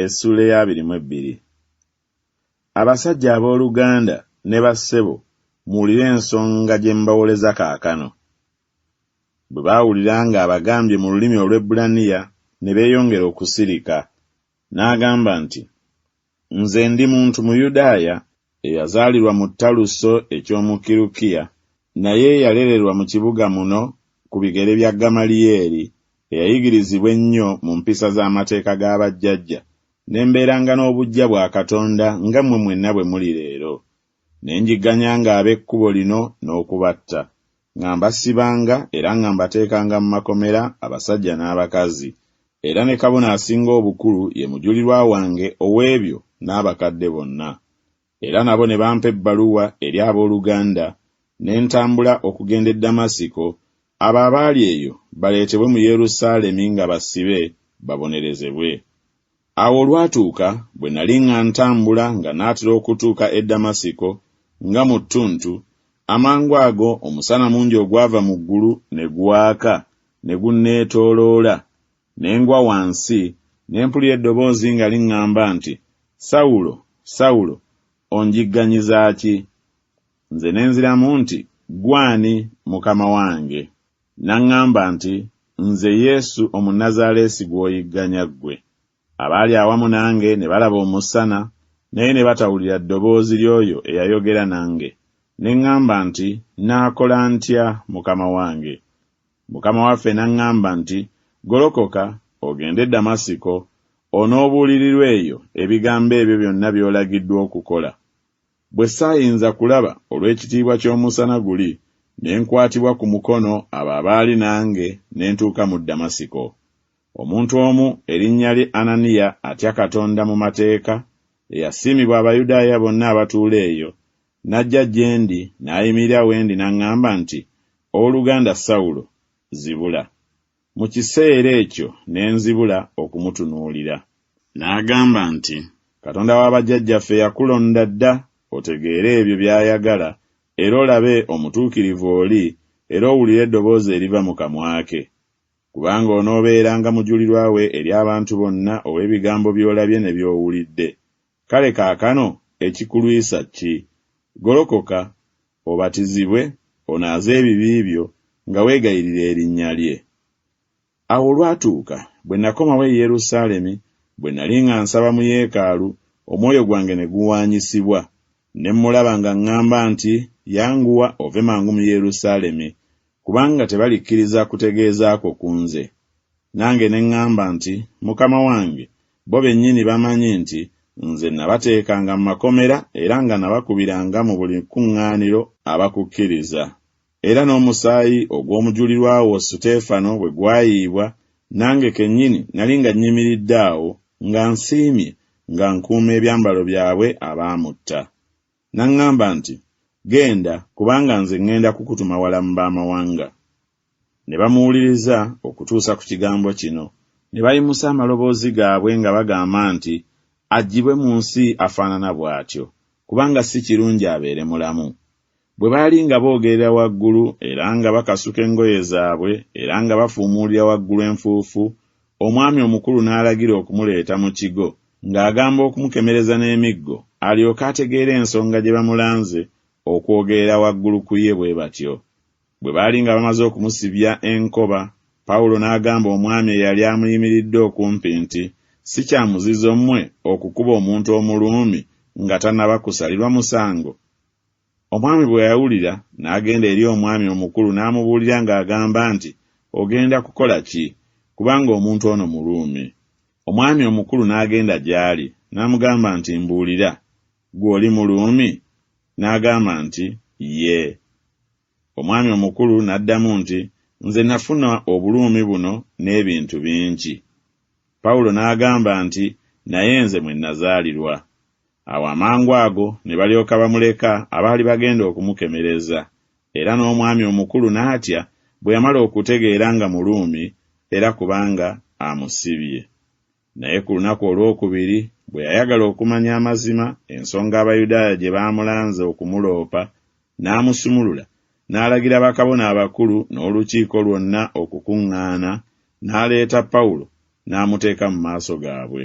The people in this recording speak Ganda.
Essuula ey'abiri mu ebbiri. Abasajja ab'oluganda ne bassebo, muwulire ensonga gye mbawoleza kaakano. Bwe baawulira nga abagambye mu lulimi Olwebbulaniya, ne beeyongera okusirika. N'agamba nti. Nze ndi muntu Muyudaaya eyazaalirwa mu Taluso eky'omu Kirukiya, naye eyalererwa mu kibuga muno ku bigere bya Gamaliyeeri, eyayigirizibwa ennyo mu mpisa z'amateeka ga bajjajja, ne mbeeranga n'obuggya bwa Katonda nga mmwe mwenna bwe muli leero. Ne njigganyanga ab'ekkubo lino n'okubatta. Nga mbasibanga era nga mbateekanga mu makomera, abasajja n'abakazi, era ne kabona asinga obukulu ye mujulirwa wange ow'ebyo n'abakadde bonna. Era nabo ne bampa ebbaluwa eri ab'oluganda, ne ntambula okugenda e Damasiko, abo abaali eyo baleetebwe mu Yerusaalemi nga basibe, babonerezebwe. Awo olwatuuka bwe nali nga ntambula nga naatera okutuuka e Damasiko, nga mu ttuntu, amangu ago omusana mungi ogwava mu ggulu ne gwaka, ne gunneetooloola, ne ngwa wansi, ne mpulira eddoboozi nga liŋŋamba nti, Sawulo, Sawulo, onjigganyiza ki? Nze ne nziramu nti, Ggwe ani, Mukama wange? N'aŋŋamba nti, Nze Yesu Omunnazaaleesi gw'oyigganya ggwe. Abaali awamu nange ne balaba Omusana, naye ne batawulira ddoboozi ly'oyo eyayogera nange. Ne ŋŋamba nti, Nnaakola ntya, Mukama wange? Mukama waffe n'aŋŋamba nti, Golokoka, ogende e Damasiko, onoobuulirirwa eyo ebigambo ebyo byonna by'olagiddwa okukola. Bwe saayinza kulaba olw'ekitiibwa ky'omusana guli, ne nkwatibwa ku mukono abo abaali nange ne ntuuka mu Damasiko. Omuntu omu erinnya lye Ananiya atya Katonda mu mateeka, eyasiimibwa Abayudaaya bonna abatuula eyo, n'ajja gye ndi n'ayimirira we ndi n'aŋŋamba nti, Ow'oluganda Sawulo, zibula. Mu kiseera ekyo ne nzibula okumutunuulira. N'agamba nti, Katonda wa bajjajjaffe yakulonda dda otegeere ebyo by'ayagala era olabe omutuukirivu oli era owulire eddoboozi eriva mu kamwa ke. Kubanga onoobeeranga mujulirwa we eri abantu bonna ow'ebigambo by'olabye ne by'owulidde, Kale kaakano ekikulwisa ki? Golokoka, obatizibwe, onaaze ebibi byo, nga weegayirira Erinnya Lye. Awo olwatuuka, bwe nnakomawo e Yerusaalemi, bwe nnali nga nsaba mu yeekaalu, omwoyo gwange ne guwaanyisibwa, Ne mmulaba nga ŋŋamba nti, Yanguwa ove mangu mu Yerusaalemi, kubanga tebalikkiriza kutegeeza kwo ku nze. Nange ne ŋŋamba nti, Mukama wange, bo bennyini bamanyi nti nze nnabateekanga mu makomera era nga nabakubiranga mu buli kkuŋŋaaniro abakukkiriza, era n'omusaayi ogw'omujulirwa wo Suteefano bwe gwayiibwa, nange kennyini nali nga nnyimiridde awo, nga nsiimye, nga nkuuma ebyambalo byabwe abaamutta. N'aŋŋamba nti, Genda, kubanga nze ŋŋenda kukutuma wala mu b'amawanga. Ne bamuwuliriza okutuusa ku kigambo kino. Ne bayimusa amaloboozi gaabwe nga bagamba nti, Aggyibwe mu nsi afaanana bw'atyo, kubanga si kirungi abeere mulamu. Bwe baali nga boogerera waggulu era nga bakasuka engoye zaabwe era nga bafuumuulira waggulu enfuufu, omwami omukulu n'alagira okumuleeta mu kigo, ng'agamba okumukemereza n'emiggo alyoke ategeere ensonga gye bamulanze okwogerera waggulu ku ye bwe batyo. Bwe baali nga bamaze okumusibya enkoba, Pawulo n'agamba omwami eyali amuyimiridde okumpi nti, Si kya muzizo mmwe okukuba omuntu Omuruumi nga tannaba kusalirwa musango? Omwami bwe yawulira, n'agenda eri omwami omukulu n'amubuulira ng'agamba nti, Ogenda kukola ki? Kubanga omuntu ono Muruumi. Omwami omukulu n'agenda gy'ali, n'amugamba nti, Mbuulira, ggwe oli Muruumi? N'agamba nti, Yee. Omwami omukulu n'addamu nti, Nze nafuna obuluumi buno n'ebintu bingi. Pawulo n'agamba nti, Naye nze mwe nazaalirwa. Awo amangu ago ne balyoka bamuleka abaali bagenda okumukemereza, era n'omwami omukulu n'atya bwe yamala okutegeera nga Muruumi era kubanga amusibye. Naye ku lunaku olw'okubiri, bwe yayagala okumanya amazima, ensonga Abayudaaya gye baamulanze okumuloopa, n'amusumulula, n'alagira bakabona abakulu n'olukiiko lwonna okukuŋŋaana, n'aleeta Pawulo n'amuteeka mu maaso gaabwe.